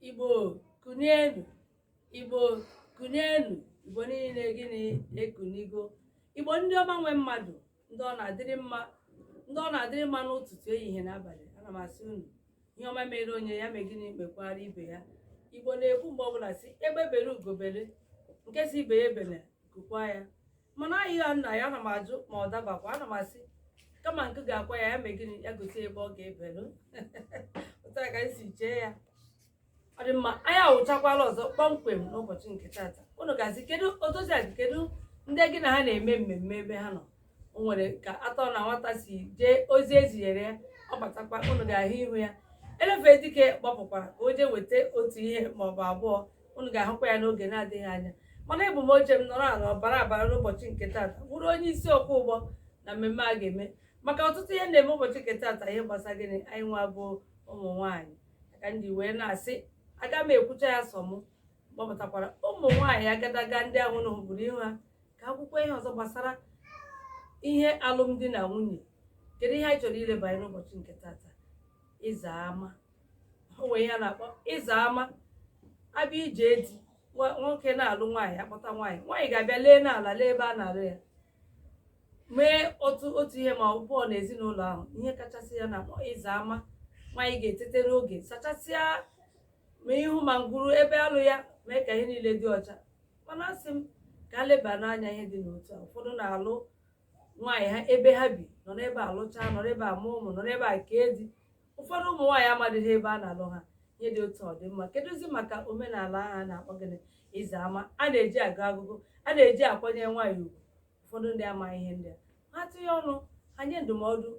Igbo kunienu Igbo kunienu Igbo niile gịnị ekunigo Igbo ndị ọma nwe mmadụ ndị ọ na-adịrị mma n'ụtụtụ ehihie na abalị ana m asị unu ihe ọma mere onye ya mee gịnị mekwara ibe ya Igbo na-ekwu mgbe ọbụla sị egbe bere ugo bere nke sị ibe ya ebele nku kwaa ya mana anyị ya nna ya ana m ajụ ma ọ dabakwa ana m asị kama nku ga-akwa ya ya mee gịnị ya gosi ebe ọ ga-ebelu otu a ka anyị si chee ya ọ dị mma anyị awụchakwala ọzọ kpọmkwem n'ụbọchị nke tata unu ga-asị kedu odoziakụ kedu ndị gị na ha na-eme mmemme ebe ha nọ o nwere ka atọ na nwata si jee ozi e zinyere ya ọ batakwa unu ga-ahụ ihu ya elefe dike gbapụkwara ka o jee weta otu ihe maọbụ abụọ unu ga-ahụkwa ya n'oge na-adịghị anya mana ebu m oche m nọrọ ala ọbara abara n'ụbọchị nke tata bụrụ onye isi ọkwọ ụgbọ na mmemme a ga-eme maka ọtụtụ ihe na-eme ụbọchị nke tata ihe gbasara gịnị anyị nwa bụ ụmụ nwaanyị ka ndị wee na-asị aga m ekwucha ya sọ m gbapụtakwara ụmụ nwaanyị agadaga ndị ahụ na hụbụrụ ihu ha ka akwụkwọ ihe ọzọ gbasara ihe alụmdi na nwunye kedu ihe anyị chọrọ ileba anya n'ụbọchị nke tata ịza ama o nwere ihe a na-akpọ ịza ama a bịa ije di nwoke na-alụ nwaanyị akpọta nwaanyị nwaanyị ga-abịa lee n'ala lee ebe a na-alụ ya mee otu ihe ma ọ bụ abụọ na ezinụlọ ahụ ihe kachasị ihe a na-akpọ ịza ama nwaanyị ga-etete n'oge sachasịa ma ihu ma ngwuru ebe a lụ ya mee ka ihe niile dị ọcha mana asị m ka a lebanụ anya ihe dị n'otu a ụfọdụ na-alụ nwaanyị ha ebe ha bi nọ n'ebe a lụchaa nọ n'ebe a mụọ ụmụ nọ n'ebe a kee di ụfọdụ ụmụ nwaanyị amadịghị ebe a na-alụ ha ihe dị otu a ọ dị mma kedụzi maka omenala ahụ a na-akpọ gịnị ịza ama a na-eji agụ agụgụ a na-eji akwanye nwaanyị ugwu ụfọdụ ndị amaghị ihe ndị a ha tinye ọnụ ha nye ndụmọdụ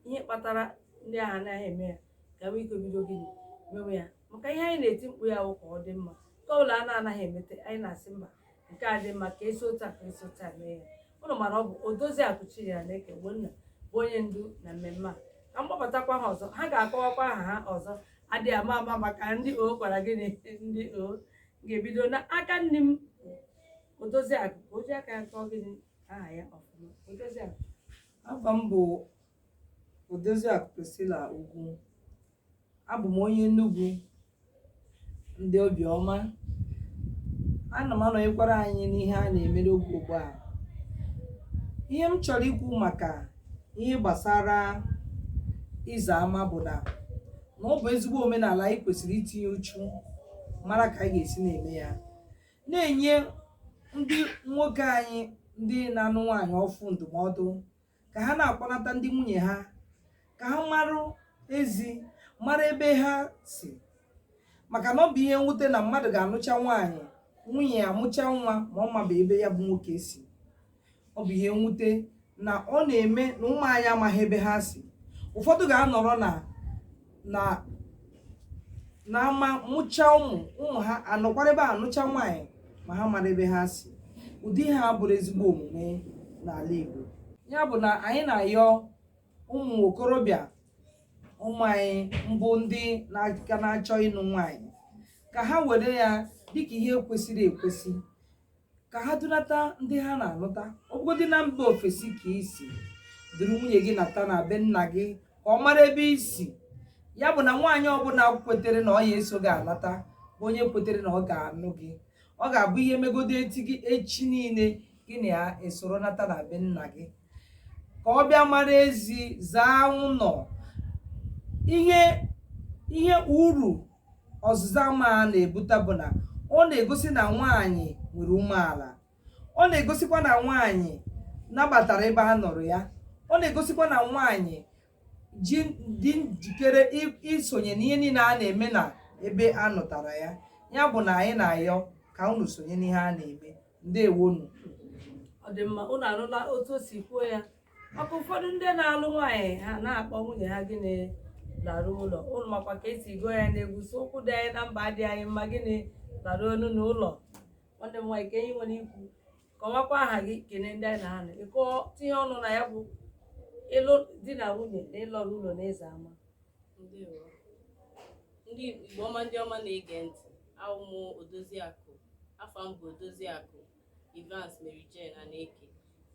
ihe kpatara ndị ahụ anaghị eme ya ka nwee ike bido gịnị mewe ya maka ihe anyị na-eti mkpu ya wụ ka ọ dị mma nke ọbụla a na-anaghị emete anyị na-asị mba nke a dị mma ka esi otu a ka esi otu a mee ya ụnụ mara ọ bụ odoziakụ Chinyere Eke Ogbonna bụ onye ndu na mmemme a ka m gbapụtakwa ha ọzọ ha ga-akọwakwa aha ha ọzọ adịghị ama ama maka ndị o gwara gị na ndị o ga-ebido n'aka nne m odoziakụ ka o ji aka ya kọọ gịnị aha ya ọfụma odoziakụ afa m bụ odoziakụ Priscilla Ugwu abụ m onye Enugu ndị obiọma ana m anọnyekwara anyị n'ihe a na-eme n'oge ugbu a ihe m chọrọ ikwu maka ihe gbasara ịza ama bụ na na ọ bụ ezigbo omenala anyị kwesịrị itinye uchu mara ka anyị ga-esi na-eme ya na-enye ndị nwoke anyị ndị na-anụ nwaanyị ọfụ ndụmọdụ ka ha na-akpọnata ndị nwunye ha ka ha marụ ezi mara ebe ha si maka na ọ bụ ihe mwute na mmadụ ga-anụcha nwaanyị nwunye ya amụcha nwa ma ọ maba ebe ya bụ nwoke si ọ bụ ihe mwute na ọ na-eme na ụmụ anyị amaghị ebe ha si ụfọdụ ga-anọrọ na na n'ama mụcha ụmụ ụmụ ha anọkwara ebe a nụcha nwaanyị ma ha amarọ ebe ha si ụdị ihe a abụrọ ezigbo omume n'ala Igbo ya bụ na anyị na-ayọ ụmụ okorobịa ụmụ anyị mbụ ndị ka na-achọ ịnụ nwaanyị ka ha were ya dịka ihe kwesịrị ekwesị ka ha dunata ndị ha na-alụta ọ bụgodị na mba ofesi ka i si duru nwunye gị nata na be nna gị ka ọ mara ebe i si ya bụ na nwaanyị ọbụla kwetere na ọ ya-eso gị alata bụ onye kwetere na ọ ga-anụ gị ọ ga-abụ ihe megodo eti gị echi niile gị na ya esoro nata na be nna gị ka ọ bịa mara ezi zaa ụlọ ihe ihe uru ọzụza ama a na-ebute bụ na ọ na-egosi na nwaanyị nwere umeala ọ na-egosikwa na nwaanyị nabatara ebe a nụrụ ya ọ na-egosikwa na nwaanyị ji dị njikere i- isonye n'ihe niile a na-eme na ebe a nụtara ya ya bụ na anyị na-ayọ ka unu sonye n'ihe a na-eme ndewonu ọ dị mma unu anụla otu o si kwuo ya maka ụfọdụ ndị na-alụ nwaanyị ha na-akpọ nwunye ha gịnị larụ ụlọ unu makwa ka e si gụọ ya n'egwu so ụkwụ dị anyị na mba dị anyị mma gịnị laruonu n'ụlọ nwanne m nwaanyị kee ihe i nwere ikwu kọwakwa aha gị kene ndị anyị na ha nọ biko tinye ọnụ na ya bụ ịlụ di na nwunye na ịlọrụ ụlọ na ịza ama Ndewo. ndị igbo ọma ndị ọma na-ege ntị awụ m odoziakụ afa m bụ odoziakụ Evans Mary Jane Aneke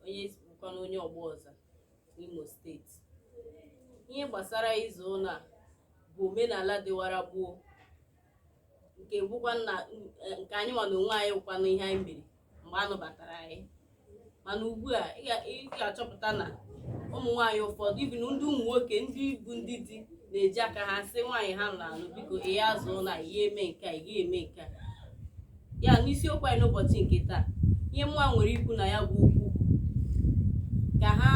onye bụkwanụ onye ọgba ọza n'Imo steeti ihe gbasara ịza ụlọ a bụ omenala dịwara gboo nke bụkwanụ eh, nke anyị nwa na onwe anyị bụkwanụ ihe anyị mere mgbe a nụbatara anyị mana ugbu a ị ga- ị ga-achọpụta na ụmụ nwaanyị ụfọdụ even ndị ụmụ nwoke ndị bụ ndị di na-eji aka ha sị nwaanyị ha na-anụ biko ị ya-aza ụlọ a ị ya-eme nke a ị ya-eme nke a ya n'isiokwu anyị n'ụbọchị nke taa ihe mụa nwere ikwu na ya bụ okwu bụ ka ha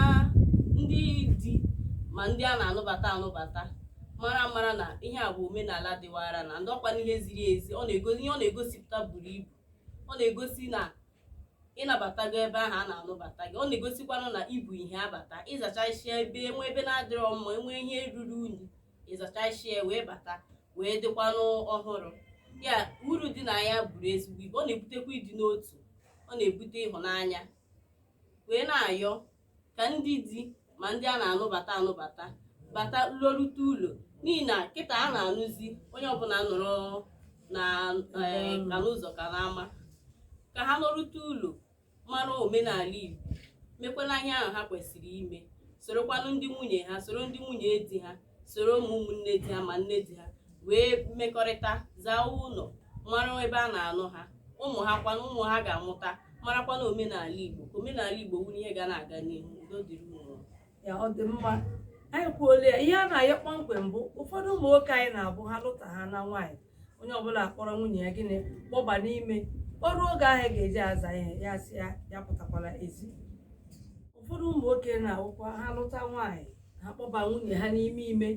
ndị di ma ndị a na-anụbata anụbata mara mara na ihe a bụ omenala dịwara na-adị ọ bụkwanụ ihe ziri ezi ọ na-egosi ihe ọ na-egosipụta buru ibu ọ na-egosi na ị nabatago ebe ahụ a na-anụbata gị ọ na-egosikwanụ na ibu ihe abata ị zachasịa ebe enwe ebe na-adịrọ mma enwe ihe ruru unyi ịzachasịa wee bata wee dịkwanụ ọhụrụ ya uru dị na ya buru ezigbo ibu ọ na-ebutekwa ịdị n'otu ọ na-ebute ịhụnanya wee na-ayọ ka ndị di ma ndị a na-anụbata anụbata bata lọrute ụlọ n'ihi na kịta a na-anụzi onye ọbụla nọrọ na eh, ka n'ụzọ ka n'ama ka ha lọrute ụlọ mara omenala Igbo mekwala ihe ahụ ha kwesịrị ime sorokwanụ ndị nwunye ha soro ndị nwunye di ha soro ụmụ ụmụnne di ha ma nne di ha wee mekọrịta zaa ụlọ mara ebe a na-anụ ha ụmụ ha kwanụ ụmụ ha ga-amụta marakwana omenala Igbo ka omenala Igbo wuru ihe ga na-aga n'ihu udo dịrị ya ọ dị mma anyị kwuola ya ihe a na-ayọ kpọmkwem bụ ụfọdụ ụmụ nwoke anyị na-abụ ha lụta ha na nwaanyị onye ọbụla akpọrọ nwunye ya gịnị kpọba n'ime ọ ruo oge a ga-eji aza ya ya si ya ya apụtakwala ezi ụfọdụ ụmụ nwoke na-awụkwa ha lụta nwaanyị ha kpọba nwunye ha n'ime ime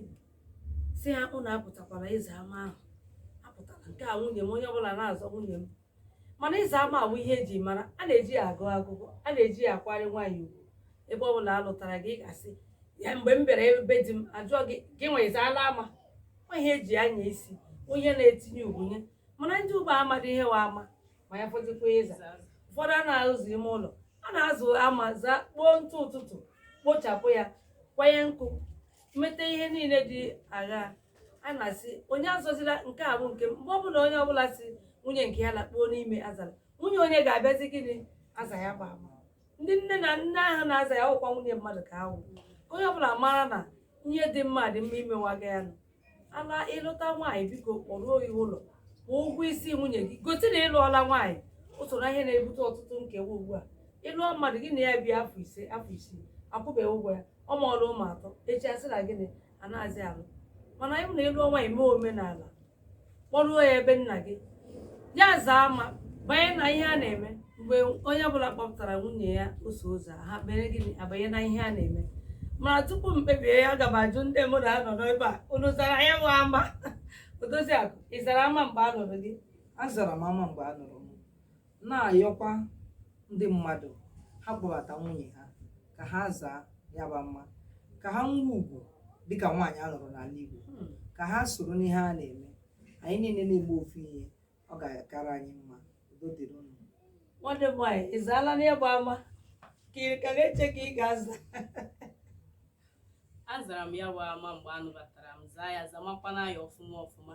si ha ụnụ apụtakwala ịza ama ahụ apụtala nke a nwunye m onye ọbụla na-azọ nwunye m mana ịza ama awụ ihe eji mara a na-eji ya agọ agụgọ a na-eji ya akwari nwaanyị ugwu ebe ọ bụla a lụtara gị ị ga-asị ya mgbe m bịara ebe di m ajụọ gị gịnwa ị zaala ama ọ wụ ihe eji anya isi ihe na-etinye ugwu n'ihe mana ndị ugbu a amadị ihe wụ ama ma ya fọdụkwa ịza ụfọdụ a na-aza ime ụlọ a na-aza ama zaa kpoo ntụ ụtụtụ kpochapụ ya kwanye nkụ meta ihe niile dị agha a na-asị onye azọzila nke a bụ nke m mgbe ọbụla onye ọbụla si nwunye nke ya lakpuo n'ime azara nwunye onye ga-abịazi gịnị aza ya bụ ama ndị nne na nne ahụ na-aza ya ọkwa nwunye mmadụ ka ha wụ onye ọbụla mara na ihe dị mma dị mma imewaga ya nụ ala ị lụta nwaanyị biko kpọruo ya ụlọ kwụọ ụgwọ isi nwunye gị gosi na ị lụọla nwaanyị o soro n'ihe na-ebute ọtụtụ nkewa ugbu a ị lụọ mmadụ gị na ya bie afọ ise afọ isii akwụbeghị ụgwọ ya ọ mụọla ụmụ atọ echi asị na gịnị anaghịzi alụ mana ọ bụ na ị lụọ nwaanyị mee omenala kpọruo ya ebe nna gị ya zaa ama banye na ihe a na-eme mgbe onye ọbụla kpọpụtara nwunye ya ụsọ ụzọ ha mere gịnị abanye na ihe a na-eme mana tupu m kpebie ya aga m ajụ ndị mmadụ a nọ n'ebe a unu zara ya wụ ama odoziakụ ị zara ama mgbe a nụrụ gị azara m ama mgbe a nụrụ na-ayọkwa ndị mmadụ ha kpọbata nwunye ha ka ha zaa ya bụ ama ka ha nwee ugwu dịka nwaanyị a lụrụ n'ala Igbo hmm. ka ha soro n'ihe a na-eme anyị niile na-eme ofu ihe ọ ga-akara anyị mma udo dịrị unu nwanne m nwaanyị ị zaala ya bụ ama ka ị ka na-eche ka ị ga-aza azara m ya bụ ama mgbe a nụbatara m zaa ya zamakwana ya ọfụma ọfụma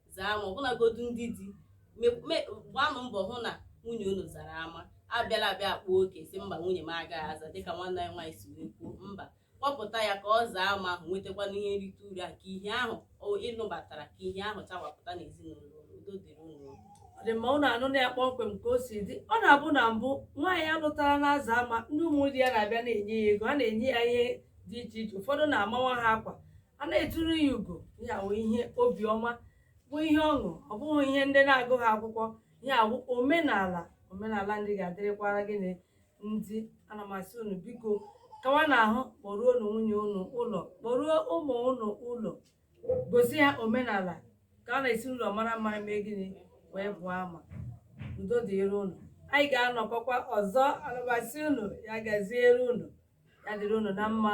zaa ama ọbụlagodu ndị di gbaanụ mbọ hụ na nwunye unu zara ama abịala abịa akpa oke sị mba nwunye m agaghị aza dịka nwanne anyị nwaanyị si wee kwuo mba kpọpụta ya ka ọ zaa ama ahụ nwetakwana ihe nrite uru a ka ihe ahụ ị nụbatara ka ihe ahụ chawapụta n'ezinụlọ udo dịrị unu ọ dị mma unu anụna kpọmkwem ka o si dị ọ na-abụ na mbụ nwaanyị a lụtara na-aza ama ndị ụmụ di ya na-abịa na-enye ya ego a na-enye ya ihe dị iche iche ụfọdụ na-amawa ha akwa a na-eturu ya ugo ya wụ ihe obiọma bụ ihe ọṅụ ọ bụghị ihe ndị na-agụghị akwụkwọ ya wụ omenala omenala ndị ga-adịrịkwara gịnị ndị ana m asị unu biko kawanụ ahụ kpọruonụ nwunye unu ụlọ kpọruo ụmụ unu ụlọ gosi ha omenala ka a na-esi ụlọ mara mma mee gịnị wee pụọ ama udo dịrị unu anyị ga-anọkọkwa ọzọ ana m asị unu ya gaziere unu ya dịrị unu na mma